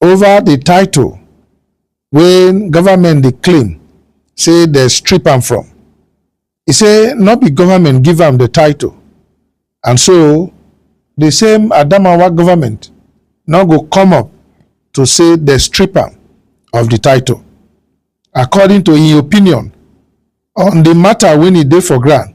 over the title when government dey claim say they strip am from. He say not be government give am the title and so the same Adamawa government no go come up to say the strip am of the title. According to his opinion on the matter when he dey for ground,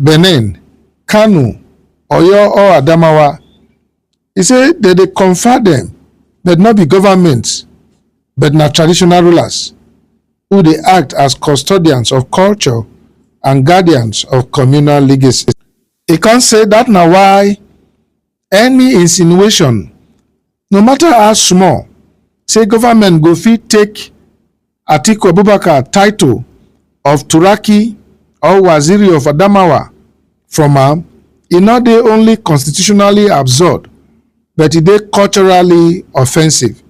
Benin, Kano, Oyo or Adamawa. He say dem dey confer dem but no be government but na traditional rulers who dey act as custodians of culture and guardians of communal legacy. E come say dat na why any insinuation no matter how small say government go fit take atiku abubakar title of turaki or waziri of adamawa from am e no dey only constitutionally absurd but e dey culturally offensive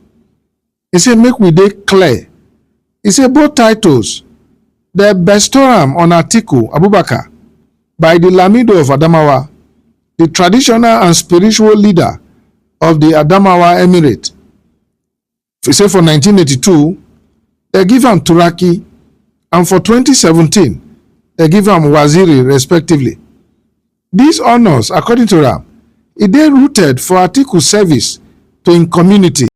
He say make we dey clear. He say both titles dey bestow am on Atiku Abubakar by the Lamido of Adamawa, the traditional and spiritual leader of the Adamawa Emirate. He say for 1982, they give am Turaki and for 2017, they give am Waziri respectively. These honors, according to am, e dey rooted for Atiku service to im community.